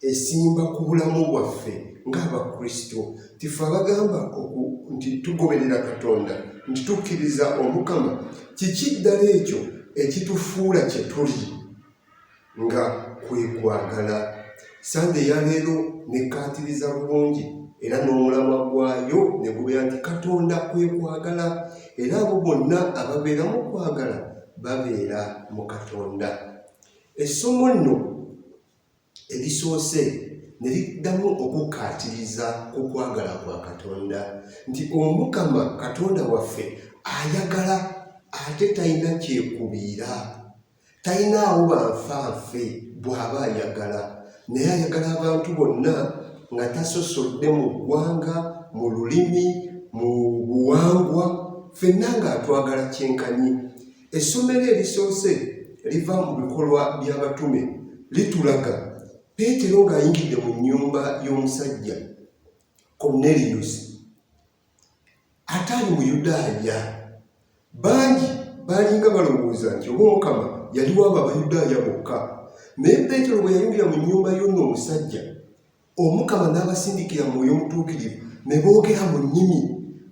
esimba ku bulamu bwaffe ng'abakristo tife abagamba nti tugoberera katonda nti tukkiriza omukama kiki ddala ekyo ekitufuula kye tuli nga kwe kwagala sande yaleero nekkaatiriza bulungi era n'omulamwa gwayo ne gubeera nti katonda kwe kwagala era abo bonna ababeera mu kwagala babeera mu katonda essomo nno erisoose ne liddamu okukkaatiriza ku kwagala kwa Katonda nti Omukama Katonda waffe ayagala ate talina kyekubiira, talinaawo banfanfe bw'aba ayagala, naye ayagala abantu bonna nga tasosodde mu ggwanga, mu lulimi, mu buwangwa, fenna ng'atwagala kyenkanyi. Essomero erisoose liva mu bikolwa by'abatume litulaga Peetero ng'ayingidde mu nnyumba y'omusajja Korneliyusi ataali Muyudaaya. Bangi baalinga balowooza nti oba Omukama yali waabo Abayudaaya bokka. Naye Peetero bwe yayingira mu nnyumba y'ono omusajja Omukama n'abasindikira Mwoyo Mutuukirivu ne boogera mu nnimi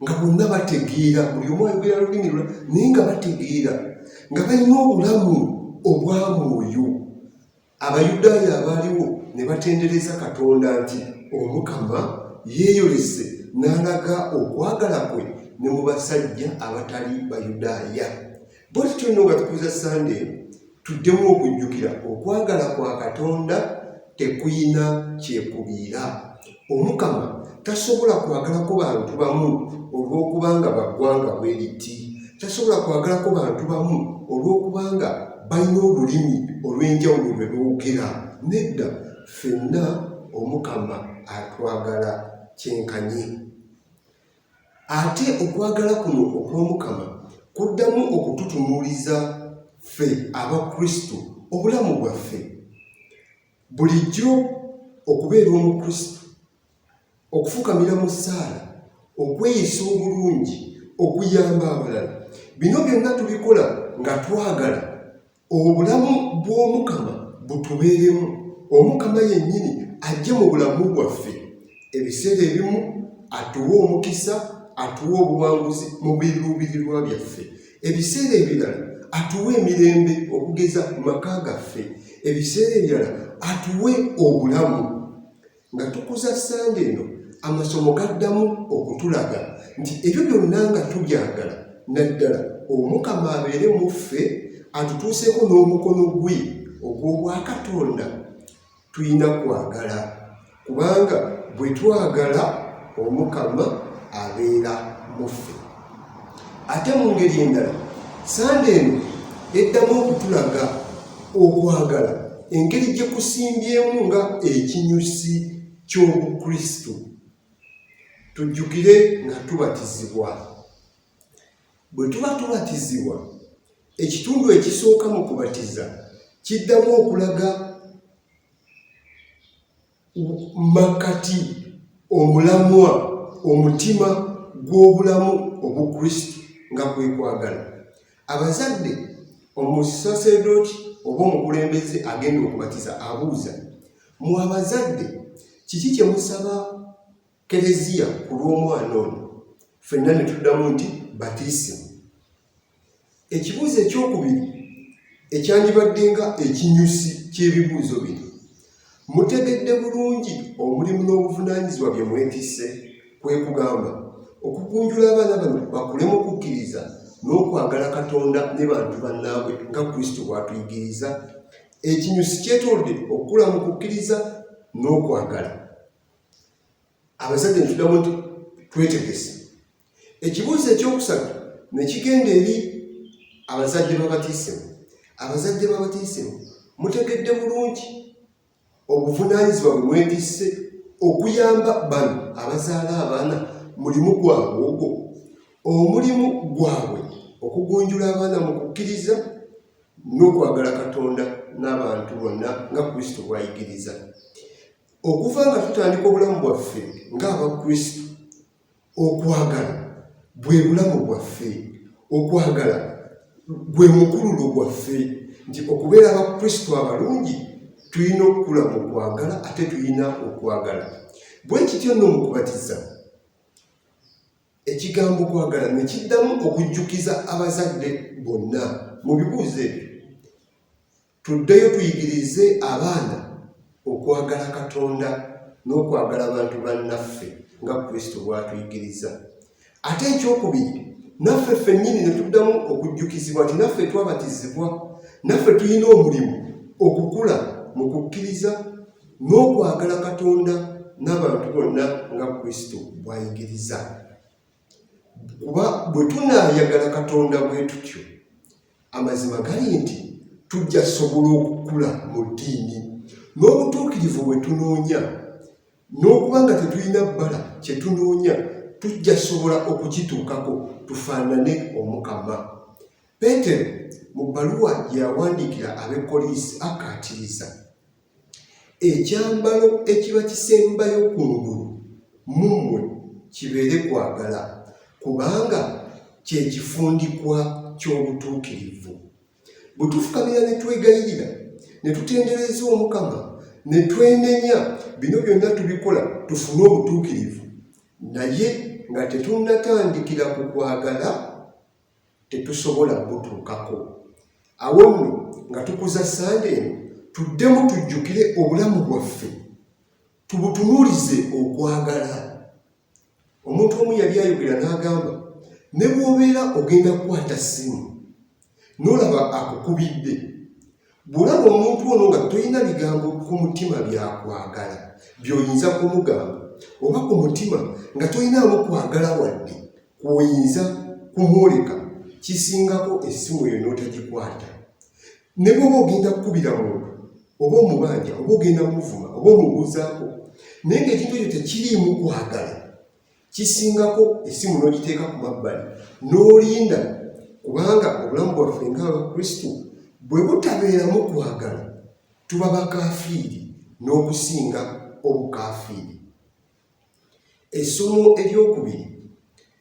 nga bonna bategeera, buli omu ayogera lulimi lwa naye nga bategeera, nga balina obulamu obwa mwoyo. Abayudaaya abaaliwo ne batendereza Katonda nti Omukama yeeyolese n'alaga okwagala kwe ne mu basajja abatali Bayudaaya. Bwetyo tulina nga tukuza Sande tuddemu okujjukira okwagala kwa Katonda tekuyina kyekubiira. Omukama tasobola kwagalako bantu bamu olw'okubanga baggwanga bwe liti. Tasobola kwagalako bantu bamu olw'okubanga balina olulimi olw'enjawulo lwe boogera. Nedda, ffenna Omukama atwagala kyenkanyi. ate okwagala kuno okw'omukama kuddamu okututunuuliza ffe aba kristo obulamu bwaffe bulijjo okubeera omukristo okufukamira mu ssaala okweyisa obulungi okuyamba abalala bino byonna tubikola nga twagala obulamu bw'omukama butubeeremu omukama yennyini ajje mu bulamu bwaffe ebiseera ebimu atuwa omukisa atuwa obuwanguzi mu biruubirirwa byaffe ebiseera ebirala atuwe emirembe okugeza mu maka gaffe ebiseera ebirala atuwe obulamu nga tukuza ssande eno amasomo gaddamu okutulaga nti ebyo byonna nga tubyagala naddala omukama abeere mu ffe atutuuseeko n'omukono gwe ogw'obwakatonda tulina kwagala kubanga bwe twagala omukama abeera mu ffe ate mu ngeri endala sande eno eddamu okutulaga okwagala engeri gye kusimbyemu nga ekinyusi ky'obukristo tujjukire nga tubatizibwa bwe tuba tubatizibwa ekitundu ekisooka mu kubatiza kiddamu okulaga makkati omulamwa omutima gw'obulamu obukristo nga kwekwagala abazadde omusaserdooti oba omukulembeze agenda okubatiza abuuza mu abazadde kiki kyemusaba Kereziya ku lw'omwana ono fenna ne tuddamu nti batisimu. Ekibuuzo ekyokubiri ekyandibadde nga ekinyusi ky'ebibuuzo bino, mutegedde bulungi omulimu n'obuvunaanyizibwa bye mwetisse, kwe kugamba okugunjula abaana bano bakule mu kukkiriza n'okwagala Katonda ne bantu bannaabwe nga Kristo bw'atuyigiriza. Ekinyusi kyetolodde okukula mu kukkiriza n'okwagala. abasajja netudamu nti twetegese ekibuuzo ekyokusatu nekigenda eri abazadde babatiisemu abazadde babatiisemu mutegedde bulungi obuvunanyizibwa bwe mwetisse okuyamba bano abazaala abaana mulimu gwabwe ogwo omulimu gwabwe okugunjula abaana mu kukkiriza n'okwagala katonda n'abantu bonna nga kristo bwayigiriza Okuva nga tutandika obulamu bwaffe ng'Abakristo, okwagala bwe bulamu bwaffe, okwagala gwe mukululo gwaffe, nti okubeera Abakristo abalungi tulina okukula mu kwagala ate tulina okwagala. Bwe kityo nno mu kubatiza ekigambo kwagala ne kiddamu okujjukiza abazadde bonna mu bibuuzo ebyo. Tuddeyo tuyigirize abaana okwagala Katonda n'okwagala abantu bannaffe nga Kristo bw'atuyigiriza. Ate ekyokubiri, naffe ffennyini ne tuddamu okujjukizibwa nti naffe twabatizibwa, naffe tulina omulimu okukula mu kukkiriza n'okwagala Katonda n'abantu bonna nga Kristo bw'ayigiriza. kuba bwe tunaayagala katonda bwe tutyo amazima gali nti tujja sobola okukula mu ddiini n'obutuukirivu bwe tunoonya n'okuba nga tetulina bbala kye tunoonya tujja sobola okukituukako tufaanane omukama peetero mu bbaluwa gye yawandiikira ab'ekkoliisi akkaatiriza Ekyambalo ekiba kisembayo ku ngulu mu mmwe kibeere kwagala, kubanga kye kifundikwa ky'obutuukirivu. Bwe tufukamira ne twegayirira ne tutendereza Omukama ne twenenya, bino byonna tubikola tufune obutuukirivu, naye nga tetunnatandikira ku kwagala. tetusobola kubutuukako. Awo nno nga tukuza ssande eno, tuddemu tujjukire obulamu bwaffe, tubutunuulize okwagala. Omuntu omu yali ayogera n'agamba, ne bw'obeera ogenda kukwata ssimu n'olaba akukubidde, Bw'olaba omuntu ono nga tolina bigambo ku mutima byakwagala by'oyinza kumugamba oba ku mutima nga tolinaamu kwagala wadde kwoyinza kumwoleka kisingako essimu eyo n'otagikwata ne bwoba ogenda kukubira muntu oba omubanja oba ogenda kumuvuma oba omubuuzaako naye ngaekintu ekyo tekiriimu kwagala kisingako esimu n'ogiteeka ku mabbali n'olinda kubanga obulamu bwaffe ng'abakristo bwe butabeeramu kwagala tuba bakafiiri n'okusinga obukafiiri essomo eryokubiri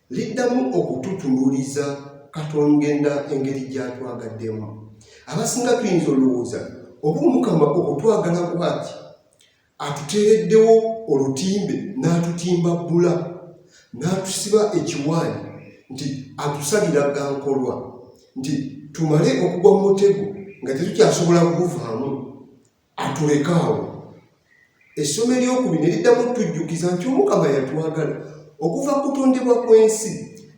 liddamu okututunuliza katongenda engeri gyatwagaddemu abasinga tuyinza olowooza oba omukama okutwagala kwaki Atuteereddewo olutimbe n'atutimba bbula, n'atusiba ekiwaani nti atusalira ga nkolwa, nti tumale okugwa mu mutego nga tetukyasobola kuguvaamu, atuleka awo. Essomo ery'okubiri ne liddamu okutujjukiza nti Omukama yatwagala okuva ku kutondebwa kw'ensi,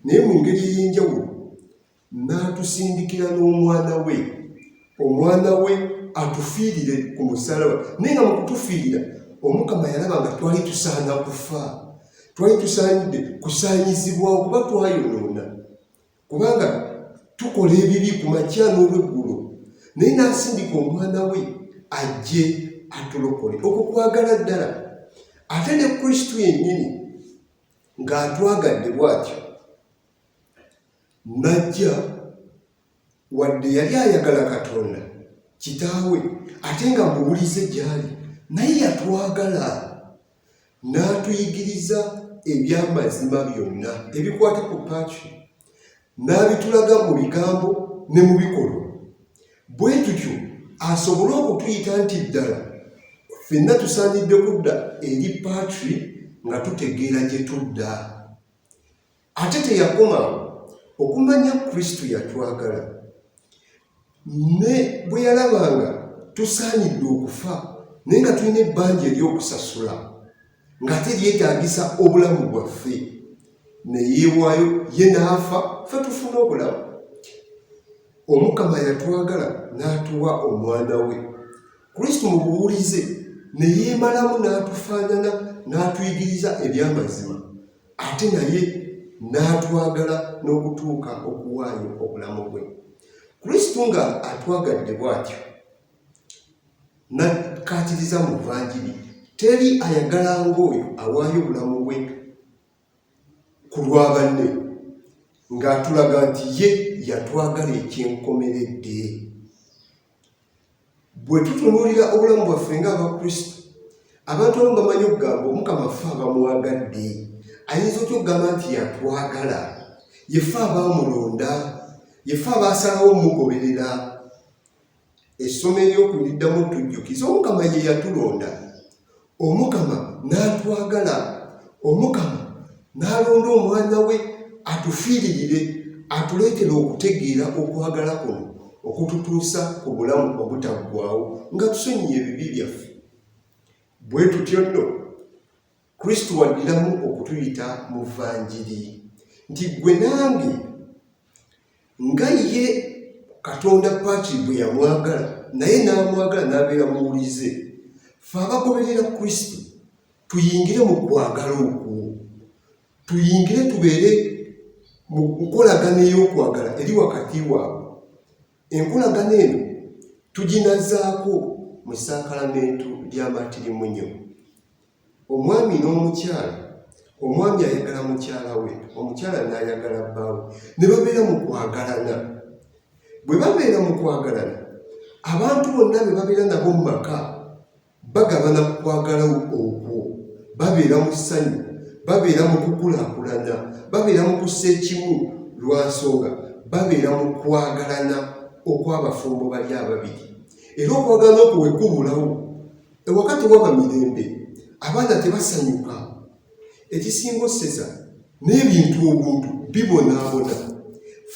naye mu ngeri ey'enjawulo. n'atusindikira n'omwana we omwana we atufiirire ku musalaba naye nga mukutufiirira omukama yalaba nga twali tusaana kufa twali tusaanidde kusaanyizibwa okuba twayonoona kubanga tukola ebibi ku makya n'olweggulo naye n'asindika omwana we ajje atulokole okwo kwagala ddala ate ne kristu yennyini ng'atwagadde bw'atyo Najja wadde yali ayagala Katonda kitaawe ate nga muwulize gy'ali, naye yatwagala n'atuyigiriza eby'amazima byonna ebikwata ku Patri, n'abitulaga mu bigambo ne mu bikolwa. Bwe tutyo asobole okutuyita nti ddala fenna tusaanidde kudda eri Patri nga tutegeera gye tudda. Ate teyakoma okumanya Kristo yatwagala ne bwe yalabanga tusaanidde okufa naye nga tulina ebbanja ery'okusasula ng'ate lyetaagisa obulamu bwaffe neyeewaayo ye n'afa fe tufuna obulamu omukama yatwagala n'atuwa omwana we kristo mu buwulize ne yeemalamu n'atufaanana n'atuyigiriza eby'amazima ate naye n'atwagala n'okutuuka okuwaayo obulamu bwe kristo nga atwagadde bw'atyo nakkaatiriza mu vanjiri teri ayagala ng'oyo awaayo obulamu bwe ku lwa banne ng'atulaga nti ye yatwagala ekyenkomeredde bwe tutunuulira obulamu bwaffe ng'abakristo abantu abamu bamanyi okugamba omukama ffe abamwagadde ayinza otya okugamba nti yatwagala yefe abaamulonda yefe abaasalawo omugoberera essomo ery'okuliddamu tujjukiza omukama ye yatulonda Omukama n'atwagala, Omukama n'alonda omwana we atufiiririre, atuleetere okutegeera okwagala kuno okututuusa ku bulamu obutaggwaawo nga tusonyiye ebibi byaffe. Bwe tutyo nno, Kristo waddiramu okutuyita mu vanjiri nti gwe nange nga ye katonda paaki bwe yamwagala naye n'amwagala n'abeera muwulize fe abagoberera kristo tuyingire mu kwagala okwo tuyingire tubeere mu nkolagana ey'okwagala eri wakati waabwe enkolagana eno tuginazaako mu ssaakalamento ly'amatirimunyo Omwami n'omukyala, omwami ayagala mukyala we, omukyala n'ayagala bbaawe, ne babeera mu kwagalana. Bwe babeera mu kwagalana, abantu bonna be babeera nabo mu maka bagabana ku kwagala okwo, babeera mu ssanyu, babeera mu kukulaakulana, babeera mu kussa ekimu lwa nsonga babeera mu kwagalana okw'abafumbo bali ababiri. Era okwagalana okwo bwe kubulawo, Ewaka tewaba mirembe, abaana tebasanyuka, ekisinga oseza n'ebintu obuntu bibonaabona.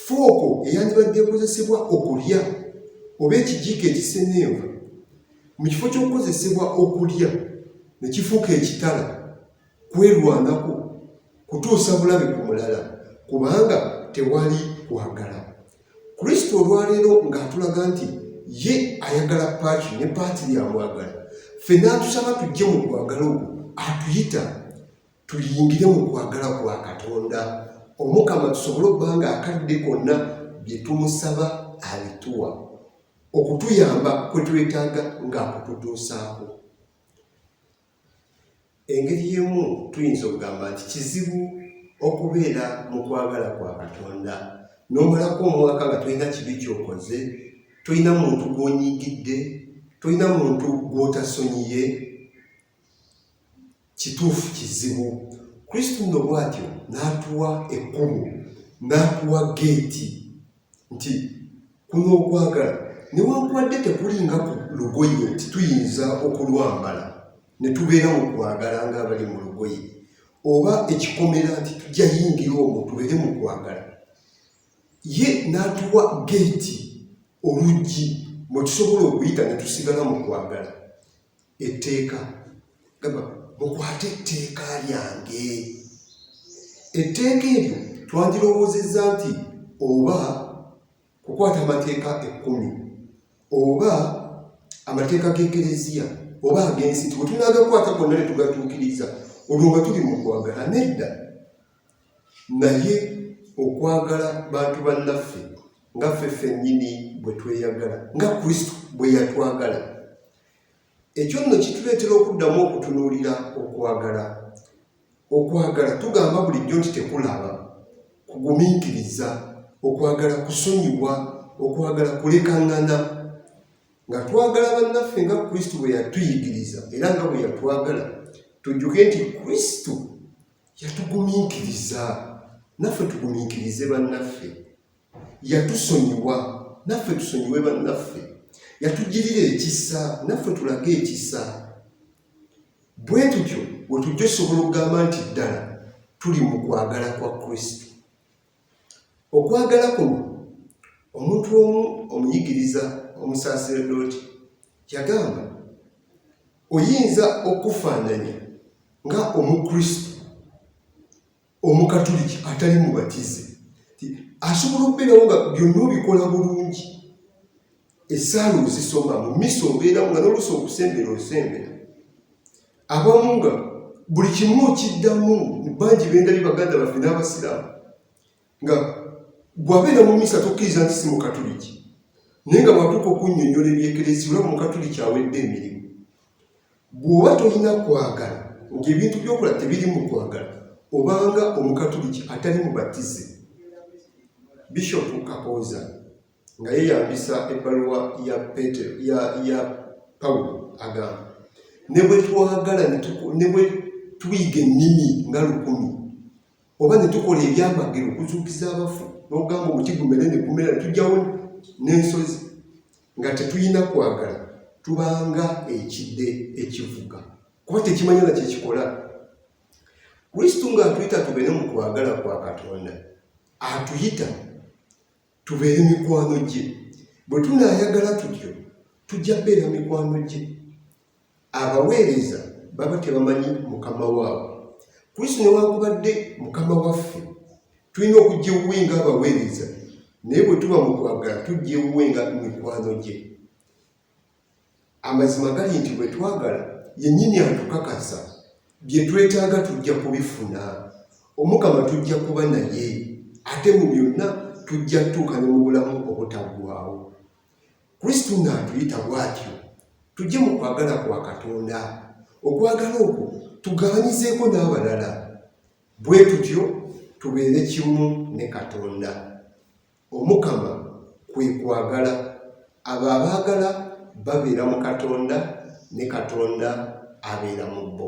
Fooko eyandibadde ekozesebwa okulya oba ekijiiko ekisenenva mu kifo ky'okukozesebwa okulya ne kifuuka ekitala. kwerwanako kutuusa bulabe ku mulala kubanga tewali kwagala kristo olwaleero ng'atulaga nti ye ayagala paaki ne paati lyamwagala ffe n'atusaba tujje mu kwagala okwo atuyita tuyingire mu kwagala kwa katonda omukama tusobole okuba nga akadde konna bye tumusaba abituwa okutuyamba kwe twetaaga ng'akututuusaako Engeri y'emu tuyinza okugamba nti kizibu okubeera mu kwagala kwa Katonda n'omalako omwaka nga tolina kibi kyokoze, tolina muntu gw'onyigidde, tolina muntu gw'otasonyiye. Kituufu kizibu. Kristo nno bw'atyo n'atuwa ekkubo, n'atuwa geeti. nti kuno okwagala newankubadde tekulinga ku lugoye nti tuyinza okulwambala ne tubeera mu kwagala ng'abali mu lugoye oba ekikomera nti tujja yingira omwo tubeere mu kwagala ye n'atuwa geeti oluggi mwe tusobola okuyita ne tusigala mu kwagala etteeka gamba mukwate etteeka lyange etteeka eryo twagirowoozezza nti oba kukwata amateeka ekkumi oba amateeka g'ekereziya oba ag'ensi tiwe tunaagakwata gonna ne tugatuukiriza olwo nga tuli mu kwagala nedda naye okwagala bantu bannaffe nga ffe ffennyini bwe tweyagala nga kristo bwe yatwagala Ekyo nno kituleetera okuddamu okutunuulira okwagala. Okwagala tugamba bulijjo nti tekulaba, kugumiikiriza, okwagala kusonyiwa, okwagala kulekaŋŋana. Nga twagala bannaffe nga Kristo bwe yatuyigiriza era nga bwe yatwagala, tujjuke nti Kristo yatugumiikiriza, naffe tugumiikirize bannaffe. Yatusonyiwa naffe tusonyiwe bannaffe, yatugirira ekisa naffe tulage ekisa. Bwe tutyo bwe tujja osobola okugamba nti ddala tuli mu kwagala kwa Kristo. Okwagala kuno omuntu omu omuyigiriza omusaseredooti yagamba, oyinza okufaananya nga Omukristo omukatuliki atali mubatize asobola okubeerawo nga byonna obikola bulungi esaala ozisoma mu misa obeeramu nga noluusi okusembera osembera abamu nga buli kimu okiddamu bangi bendabi baganda baffe n'abasiraamu nga bwabeera mu misa tokkiriza nti si mukatuliki naye nga bwatuuka okunyonyola ebyekerezi olaba mukatuliki awedde emirimu Bw'oba tolina kwagala ng'ebintu by'okola tebirimu kwagala, obanga Omukatuliki atali mubatize. Bishopu Kakooza nga yeeyambisa ebbaluwa ya Peetero ya ya Pawulo agamba, ne bwe twagala ne bwe tuyiga ennimi nga lukumi oba ne tukola ebyamagero okuzuukiza abafu n'ogamba omuti gumere ne gumera ne tujjawo n'ensozi nga tetulina kwagala tubanga ekide ekivuga kuba tekimanya na kyekikola kristo nga atuyita tubeere mu kwagala kwa katonda atuyita tubeere mikwano gye bwe tunaayagala tutyo tujja beera mikwano gye abaweereza baba tebamanyi mukama waabwe kristo newankubadde mukama waffe tulina okujja ewuwe nga abaweereza naye bwe tuba mu kwagala tujja ewuwe nga mikwano gye amazima gali nti bwe twagala yennyini atukakasa bye twetaaga tujja kubifuna omukama tujja kuba naye ate mu byonna tujja tutuuka ne mu bulamu obutaggwawo Kristo ng'atuyita bw'atyo tujje mu kwagala kwa Katonda. Okwagala okwo tugabanyizeeko n'abalala, bwe tutyo tubeere kimu ne Katonda. Omukama kwe kwagala, abo abaagala babeera mu Katonda ne Katonda abeera mu bo.